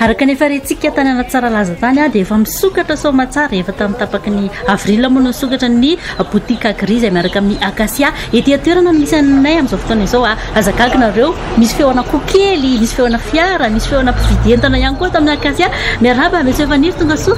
araka ny efa rentsika tany anatsara laza tany ah dia efa misokatra somatsara efa tamin'ny tapaky ny avril moa no misokatra ny boutique agri izay miaraka amin'ny acacia Ety an-toerana no misy anay amin'izao fotoana izao a! Aza gaga nareo, misy feon'akoho kely, misy feona fiara, misy feona mpividy entana ihany koa ato amin'ny Acacia. Miarahaba, Monsieur Faniry, tongasoa.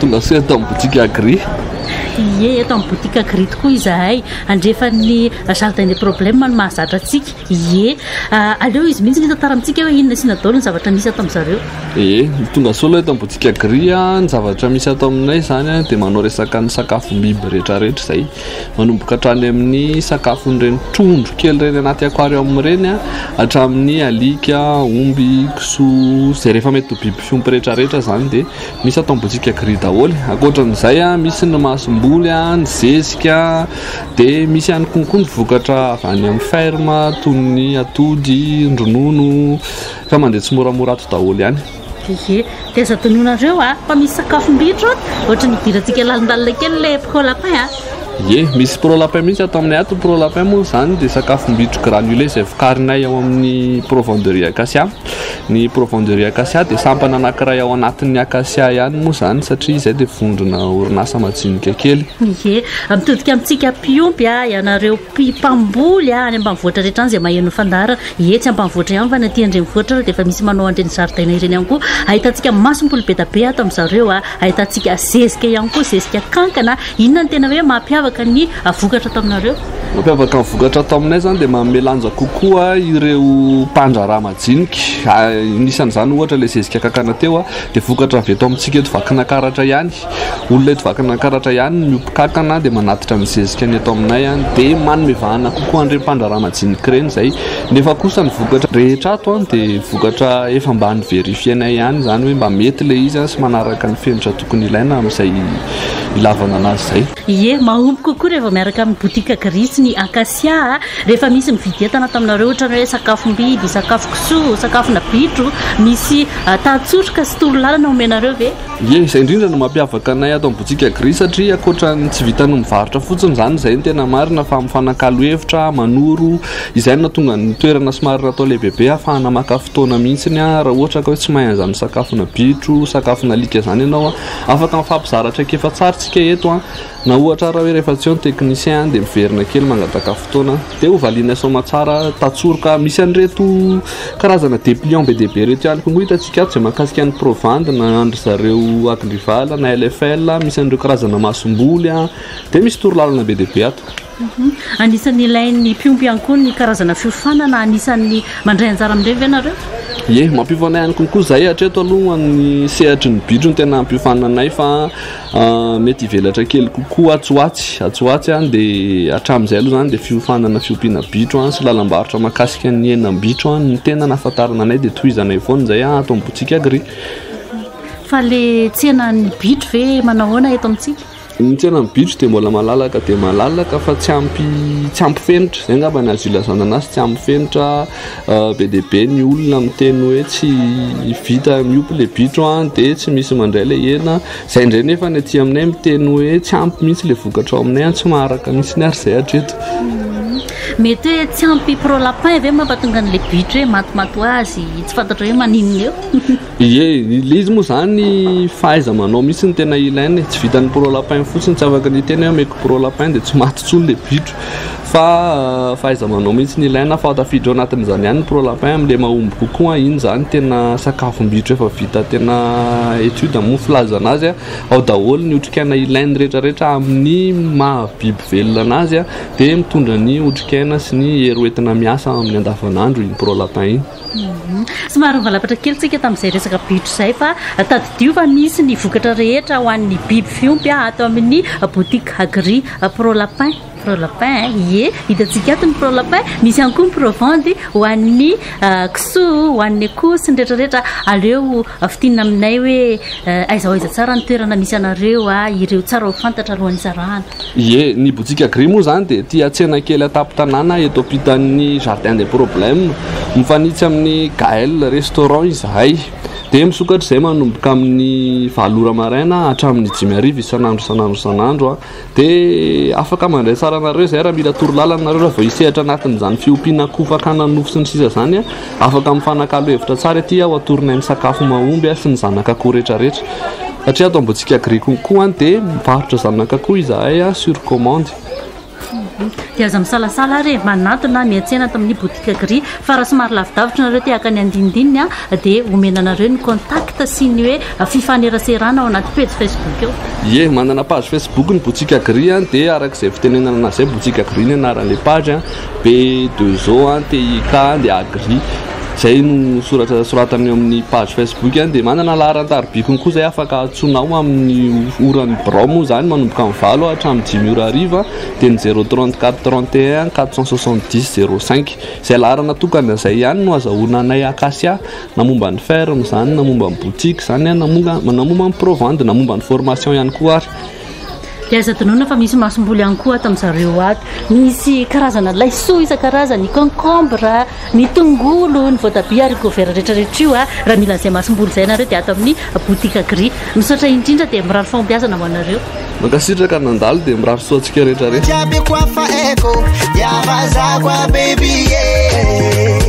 Tongasoa eto amin'ny boutique Agri. Ie, eto amin'ny boutique Agri tokoa izahay. Andrefan'ny Jardin des Problèmes no mahazatra antsika. Ie, aleo izy mihitsy no hitantara amintsika hoe inona sy inona daholo ny zavatra misy ato amin'i zareo. Ie, tongasoa aloha eto amin'ny boutique Agri. Ny zavatra misy ato aminay izany dia manao resaka ny sakafom-biby rehetra rehetra izay. Manomboka hatrany amin'ny sakafon'ireny trondro kely ireny anaty aquarium ireny hatramin'ny alika, omby, kisoa, izay rehefa mety ho biby fiompy rehetrarehetra izany dia misy atao boutique gris daholo. Ankoatran'izay misy ny masomboly, ny zezika dia misy ihany koa ny vokatra avy any amin'ny ferme toy ny atody, ny ronono fa mandeha tsimoramora ato daholo ihany. Ye, dia aza adinoinareo a, fa misy sakafom bitro a, ohatry ny hidirantsika lalindalina kely ilay pro lapin a. Ye, misy pro lapin mihitsy ato aminay ato, pro lapin moa izany dia sakafom bitro granulé izay vokarinay ao amin'ny Provon de riz acacia, ny Provon de riz acacia dia sampana anankiray ao anatin'ny acacia ihany moa izany satria izay dia vondrona orinasa majinika kely. Ye, mitodika amintsika mpiompy a, ianareo mpamboly a, any ambanivohitra rehetra any izay maheno ny fandaharana, Etsy ambanivohitra ihany fa ny aty an-drenivohitra ary dia efa misy manao an'ireny zaridaina ireny ihany koa. Ahitantsika masomboly be dia be ato amin'i zareo, ahitantsika zezika ihany koa, zezika kankana. Inona no tena hoe mampiavaka ny vokatra ato aminareo? Mampiavaka ny vokatra ato aminay izany dia manome lanja kokoa ireo mpandraharaha majinika. Anisan'izany ohatra ilay zezika kankana teo dia vokatra avy eto amintsika eto Vakinakaratra ihany. Olona eto Vakinankaratra ihany no miompy kankana dia manatitra ny zezika ny eto aminay dia manome vahana kokoa an'ireny mpandraharaha majinika ireny izay nefa kosa ny vokatra rehetra ato dia vokatra efa mba niverifienay ihany izany hoe mba mety ilay izy sy manaraka ny fenitra tokony ilaina amin'izay ilavana anazy izay. Ie, mahomby kokoa raha vao miaraka amin'ny botika Gris ny Acacia rehefa misy mividy entana taminareo ohatran'ny hoe sakafom-biby, sakafo kisoa, sakafona bitro, misy tahan-tsoroka sy toro lalana omenareo ve? Ie, izay indrindra no mampiavaka anay ato amin'ny botsika Gris satria ankoatra ny tsy vitan'ny mivarotra fotsiny izany, izay no tena marina fa mifanakalo hevitra, manoro, izay no nahatonga ny toerana somary natao lehibebe ahafahana maka fotoana mihitsy raha ohatra ka hoe tsy mahay an'izany sakafona bitro, sakafona alika izany ianao, afaka mifampizara traikefa tsara tsika eto. Na ohatra ara hoe rehefa tsy eo ny technicien dia miverina kely mangataka fotoana dia ho valianay soamatsara tatsoroka misy an'ireto karazana depliant be dia be ireto ihany koa ngo hitantsika ato izay mahakasika ny provandy na an-dry zareo agrival na LFL misy an'ireo karazana masomboly dia misy torolalana be dia be ato Anisan'ny ilain'ny mpiompy ihany koa ny karazana fiofanana. Anisan'ny mandray anjara amin'ireny ve ianareo? Ie, mampiofana ihany kokoa izahay. Hatreto aloha ny sehatry ny bitro no tena hampiofananay fa mety hivelatra kely kokoa atsy ho atsy. Atsy ho atsy dia hatramin'izay aloha izany dia fiofanana, fiompiana bitro sy lalam-barotra mahakasika ny henam-bitro no tena nahafantarana anay dia tohizanay foana izay ato amin'ny Botsika Agri. Fa ilay tsenan'ny bitro ve manao ahoana eto amintsika? Ny tsenan'ny bitro dia mbola malalaka dia malalaka fa tsy ampy tsy ampy fenitra, izay angamba ny azo ilazana anazy tsy ampy fenitra, euh, be dia be ny olona miteny hoe tsy vita miompy le bitro an, ah, dia tsy misy mandray le hena, izay indray nefa ny aty aminay miteny hoe tsy ampy mihitsy le vokatra ao aminay an, ah, tsy maharaka mihitsy ny ary izay hatreto. Mety hoe tsy ampy pro lapin ve mampatonga an'le bitro hoe matimaty ho azy, tsy fantatra hoe maninona eo? Ie, ilay izy moa izany fahaiza-manao mihitsy no tena ilaina e, tsy vitan'ny pro lapin fotsiny, tsy afaka ny hiteny hoe omeko pro lapin dia tsy maty intsony ilay bitro fa fahaiza-manao mihitsy no ilaina, fa tafiditra ao anatin'izany ihany ny pro lapin amin'ilay mahomby kokoa, iny izany tena sakafom-bitro efa vita tena étude moa ny filazana azy, ao daholo ny otrikaina ilainy rehetra rehetra amin'ny maha-biby velona an'azy dia mitondra ny otrikaina sy ny hery hoentina miasa amin'ny andavanandro iny pro lapin iny. Somary nivalapatra kely tsika tamin'izay resaka bitro izay fa tadidio fa misy ny vokatra rehetra ho an'ny biby fiompy ato amin'ny boutique Agri Pro Lapin. Pro Lapin, ie, hitantsika ato ny Pro Lapin, misy ihany koa ny Pro Vendy ho an'ny ah, kisoa, ho an'ny akoho sy ny rehetra rehetra. Aleo ah, fintinina aminay hoe ah, aiza ho aiza tsara ny toerana misy anareo ah, ireo tsara ho fantatra alohan'ny zarahana. Ie, ny Botsiaka Gris moa izany dia tia tsena kely an-tampon-tanàna eto ampitan'ny Jardin des Problèmes. Mifanitsy amin'ny Gaëlle Restaurant izahay. Dia misokatra izay manomboka amin'ny valo ora maraina hatramin'ny dimy hariva isan'andro isan'andro isan'andro. Dia afaka mandray tsara anareo izay raha mila torolalana nareo raha vao hisehatra anatin'izany fiompiana akoho fakana nofo sy ny sisa izany. Afaka mifanakalo hevitra tsara ity aho atoronay ny sakafo mahomby sy ny zanak'akoho retraretra satria ato Ambohitsika Agri Conco dia mivarotra zanak'akoho izahay sur commande. Dia aza misalasala ary e! Manantona miantsena ato amin'ny Boutique Agri fa raha somary lavidavitra nareo te haka ny andinindininy dia omena anareo ny contact sy ny hoe fifaneraserana ao anaty pejy Facebook eo. Ie, manana page Facebook ny Boutique Agri dia arak'izay fitenenana an'azy izay Boutique Agri ny anaran'ilay page. be de zo an, TIK an, dia agri. Izay no soratra soratany eo amin'ny page Facebook an, dia manana laharan-tarobikony koa izay afaka antsoinao amin'ny oran'ny birao moa izany manomboka amin'ny valo an hatramin'ny dimy ora hariva dia ny zéro trente quatre trente et un quatre cent soixante dix zéro cinq. Izay laharana tokana izay ihany no azahoana anay Acacia na momba ny ferme izany na momba ny boutique izany an, na momba ny provandy na momba ny formation ihany koa ary. Dia aza adinoina fa misy masomboly ihany koa ato amin'i zareo ato. Misy karazana laisoa isan-karazany, ny concombre, ny tongolo, ny voatabia, haricots verts rehetrarehetra io. Raha mila an'izay masomboly izay ianareo dia ato amin'ny boutique Agri. Misaotra indrindra dia mirary fahombiazana ho anareo. Mankasitraka nandalo dia mirary soa antsika rehetra rehetra. Jiaby ko afaheko dia vazako a baby e.